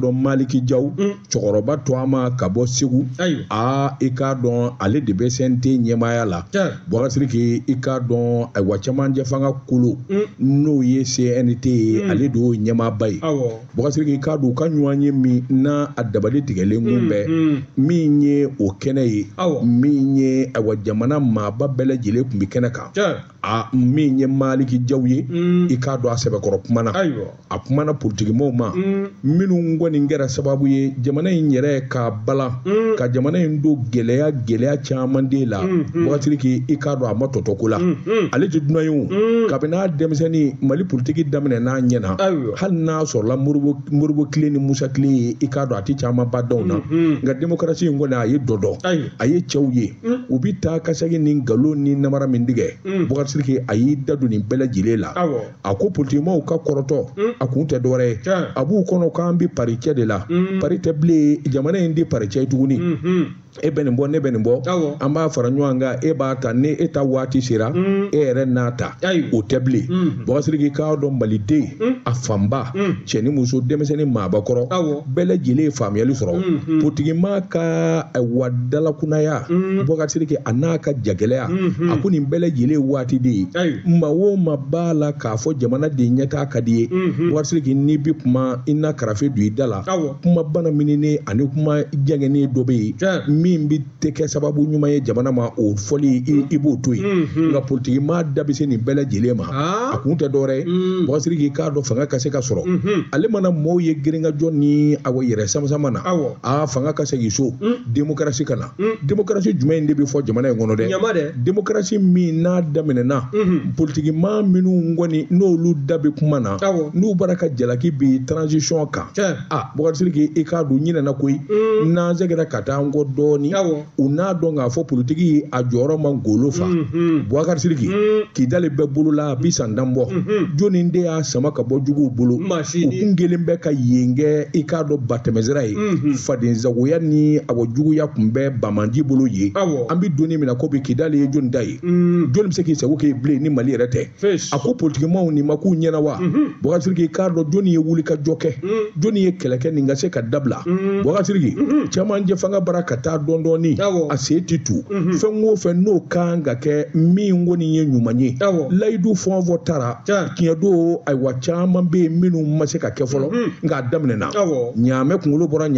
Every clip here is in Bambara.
dɔn maliki jaw mm. cɛkɔrɔba tɔgɔma ka bɔ segu aa i k'a dɔn ale de bɛ cnt ɲɛmaaya la bubakari sidiki i k'a dɔn ayiwa camancɛ fanga kolo mm. n'o ye cnt ye mm. ale de y'o ɲɛmaaba ye bubakari sidiki i k'a dɔn u ka ɲɔgɔnye min n'a a dabali tigɛlen kun bɛ min ye o kɛnɛ ye min ye ayiwa jamana maaba bɛɛ lajɛlen kun bɛ kɛnɛ kan a min ye maliki jaw ye mm. i k'a dɔn a sɛbɛkɔrɔ kumana a kumana politikimaw ma mm. minnu kɔni kɛra sababu ye jamana in yɛrɛ ka balan mm. ka jamana in don gɛlɛya gɛlɛya caman de la bubakari sidiki i k'a dɔn a ma tɔ to ko la ale tɛ dunan ye o kabini a denmisɛnnin mali politiki daminɛna a ɲɛ na hali n'a sɔrɔla moribo kile ni musa kile ye i k'a dɔn a tɛ caman ba dɔn na nka demokarasi in kɔni a ye dɔ dɔn a ye cɛw ye u bi taa ka sagin ni nkalon ni namara min tigɛ bubakari sidiki a y'i da don nin bɛɛ lajɛlen la a ko politikimaw ka kɔrɔtɔ a kun tɛ dɔwɛrɛ ye a b'u kɔnɔ k'an bi paricɛ de la pari tɛ bilen jamana in ti paricɛ ye tuguni e bɛ nin bɔ ne bɛ nin bɔ an b'a fara ɲɔgɔn kan e b'a ta ni e ta waati sera e yɛrɛ n'a ta o tɛ bilen bubakari sidiki k'a dɔn maliden a fanba cɛ ni muso denmisɛnnin maabakɔrɔ bɛɛ lajɛlen ye faamuyali sɔrɔ politikimaa ka awa dalakunaya bubakari sidiki an'a ka jagɛlɛya a ko nin bɛɛ lajɛlen waati de ye maa o maa b'a la k'a fɔ jamana de ɲɛtaa ka d'i ye bubakari sidiki n'i bɛ kuma i na karafe don i da la kuma banamininen ani kuma jɛngɛnnen dɔ bɛ yen min bɛ tɛ kɛ sababu ɲuman ye jamana ma o fɔli i b'o to yen mm-hmm. nka politikimaa da bɛ se nin bɛɛ lajɛlen ma ah. a kun tɛ dɔwɛrɛ ye mm. bubakari sidiki k'a dɔn fanga ka se ka sɔrɔ mm-hmm. ale mana mɔɔw ye girinkajɔ ni awɔ yɛrɛ samasama na a fanga ka segin so mm. demokarasi ka na mm. demokarasi jumɛn in de bɛ fɔ jamana in kɔnɔ dɛ demokarasi min n'a daminɛna mm-hmm. politikimaa minnu kɔni n'olu da bɛ kuma na n'u bara ka jalaki bin transition kan bubakari siriki i k'a dɔn u ɲinɛna koyi mm. n'an segira ka taa an kɔ dɔɔni u n'a dɔn k'a fɔ politiki ye a jɔyɔrɔ man golo fa mm-hmm. bubakari siriki mm. kidali bɛ bolo la a bi san tan bɔ mm-hmm. jɔni de y'a sama ka bɔ juguw bolo u kun kɛlen bɛ ka yen kɛ i k'a dɔn batɛmɛsira ye mm-hmm. fadenzagoya ni awɔ juguya kun bɛ banbaanci bolo yen an bi don in min na ko bi kidali ye jɔni ta ye mm. jɔni bɛ se k'i sago kɛ bilen ni mali yɛrɛ tɛ a ko politikimaaw nin ma k'u ɲɛ na wa bubakari sidiki k'a dɔn jɔnni ye wulikajɔ kɛ jɔnni ye kɛlɛ kɛ nin ka se ka dabila bubakari sidiki camancɛ fanga bara ka taa dɔɔni dɔɔni a se ti tu fɛn o fɛn n'o kan ka kɛ min kɔni ye ɲuman ye layidu fɛn o fɛn tara tiɲɛ don ayiwa caman bɛ yen minnu ma se ka kɛ fɔlɔ nka a daminɛna ɲaamɛ kunkolo bɔra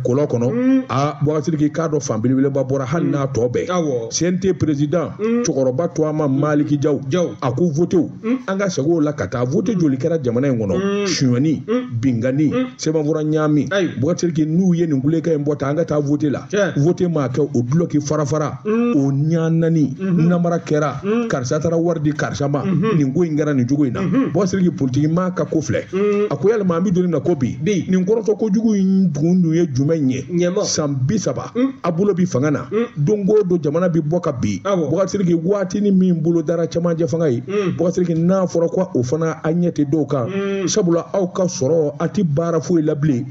kɔlɔn kɔnɔ a bubakari sidiki k'a dɔn fan belebeleba bɔra hali n'a tɔ bɛ yen cnt perezidan cɛkɔrɔba tɔgɔma maliki jaw a ko votew an ka segin o la ka taa vote joli kɛra jamana in kɔnɔ sonyani binkanni sɛbɛnfura ɲaami Boubacar Sidiki n'u ye nin kulekan in bɔ ta an ka taa vote la vote ma kɛ o dulɔki farafara o ɲanani namara kɛra karisa taara wari di karisa ma nin ko in kɛra nin cogo in na Boubacar Sidiki politiki maa ka ko filɛ a ko yalima an bɛ don na ko bi nin kɔrɔtɔ kojugu in kun dun ye jumɛn ye san bi saba a bolo bi fanga na don o don jamana bɛ bɔ ka bin Boubacar Sidiki waati ni min bolo dara camancɛ fanga ye Boubacar Sidiki n'a fɔra ko o fana a ɲɛ tɛ dɔw kan sabula aw ka sɔrɔ a tɛ baara foyi la bilen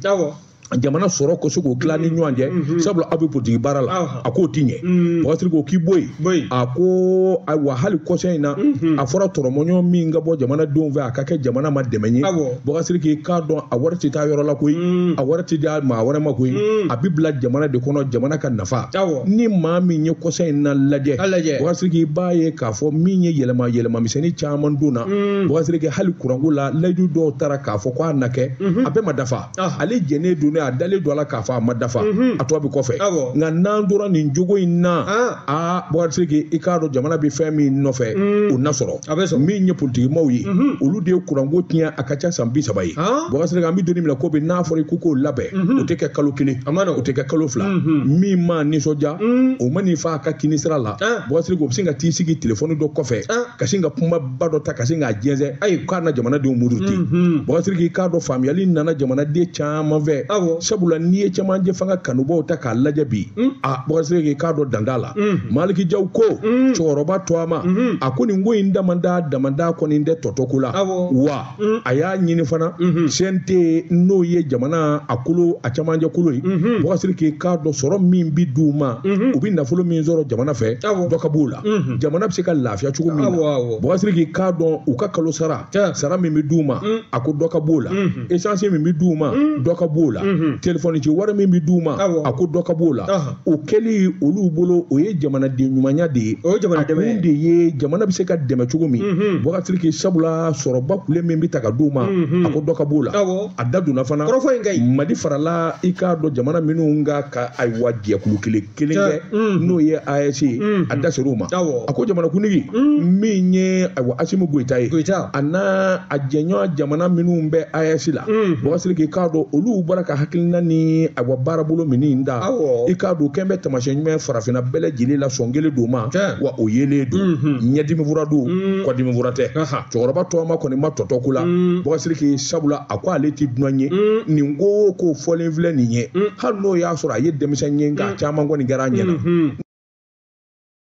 jamana sɔrɔ ko se k'o tila ni ɲɔgɔn cɛ sabula aw bɛ politigi baara la a k'o tɛ ɲɛ Boubacar Sidiki o k'i bɔ yen a ko ayiwa hali kɔsa in na mhm. a fɔra tɔrɔmɔɲɔgɔn min ka bɔ jamana denw fɛ a ka kɛ jamana ma dɛmɛ ye Boubacar Sidiki i k'a dɔn a wari tɛ taa yɔrɔ la koyi mm. a wari tɛ di maa wɛrɛ ma koyi mm. a bɛ bila jamana de kɔnɔ jamana ka nafa ni maa min ye kɔsa in na lajɛ Boubacar Sidiki i b'a ye k'a fɔ min ye yɛlɛma yɛlɛma misɛnnin caman donna mm. Boubacar Sidiki hali kuranko la layidu dɔw tara k'a fɔ k'a na kɛ mhm. a bɛɛ ma dafa ale jɛnnen don ni a dalen don a la k'a fɔ a ma dafa a tɔ bɛ kɔfɛ nka n'an tora nin jogo in na aa Boubacar Sidiki i k'a dɔn jamana bɛ fɛn min nɔfɛ o na sɔrɔ min ye politikimaaw ye olu de ye kuranko tiɲɛ a ka ca san bi saba ye Boubacar Sidiki an bɛ don min na ko bi n'a fɔra i ko k'o labɛn o tɛ kɛ kalo kelen o tɛ kɛ kalo fila min ma nisɔndiya o ma n'i fa a ka kini sira la Boubacar Sidiki o bɛ sin ka t'i sigi telefɔni dɔ kɔfɛ ka sin ka kuma ba dɔ ta ka sin k'a jɛnsɛn ayi k'a na jamanadenw muruti mm-hmm. Boubacar Sidiki i k'a dɔn faamuyali nana jamanaden caman fɛ sabula n'i ye cɛmancɛ fanga kanubaw ta k'a lajɛ bi mm. a Boubacar Sidiki i k'a dɔn dan t'a la mm. maliki jaw ko mm. cɛkɔrɔba tɔgɔma mm-hmm. a ko nin ko in damanda damanda kɔni tɛ tɔ to ko la wa Mm. a y'a ɲini fana mm-hmm. CNT n'o ye jamana a kolo a camancɛ kolo ye mm-hmm. Boubacar Sidiki i k'a dɔn sɔrɔ min bi di u ma mm-hmm. u bi nafolo min sɔrɔ jamana fɛ dɔ ka b'o la jamana bɛ se ka lafiya cogo min na Boubacar Sidiki i k'a dɔn u ka kalo sara sara min bi di u ma mm. a ko dɔ ka b'o la esansi min bi di u ma mm. dɔ ka b'o la telefɔni ci wari min bi di u ma a ko dɔ ka b'o la o kɛli olu bolo o ye jamanaden ɲumanya de ye o ye jamana dɛmɛ ye. a kun de ye jamana bɛ se ka dɛmɛ cogo min Mhm. Boubacar Sidiki sabula sɔrɔba kule min bɛ ta ka d'u ma Mhm. a ko dɔ ka b'o la Awɔ. a da donna fana kɔrɔfɔ in ka ɲi mali farala i k'a dɔn jamana minnu kan ka ayiwa jɛkulu kelen kelen kɛ Mhm. n'o ye AES ye Mhm. a da ser'o ma Awɔ. a ko jamanakuntigi min ye ayiwa asimi goyita ye Goyita. a n'a a jɛɲɔgɔn jamana minnu bɛ AES la Mhm. Boubacar Sidiki i k'a dɔn olu bɔra ka a hakilina ni ayiwa baarabolo min in da i k'a dɔn kɛn bɛ taamasiyɛn ɲuman farafinna bɛɛ lajɛlen la sɔn kelen don ma wa o yelen don mhm. ɲɛdimi fura don mhm. kɔdimi fura tɛ cɛkɔrɔba tɔgɔma kɔni ma tɔ to ko la mhm. Boubacar Sidiki sabula a ko ale tɛ dunan ye nin ko o ko fɔlen filɛ nin ye hali n'o y'a sɔrɔ a ye denmisɛn ye nka caman kɔni kɛra a ɲɛna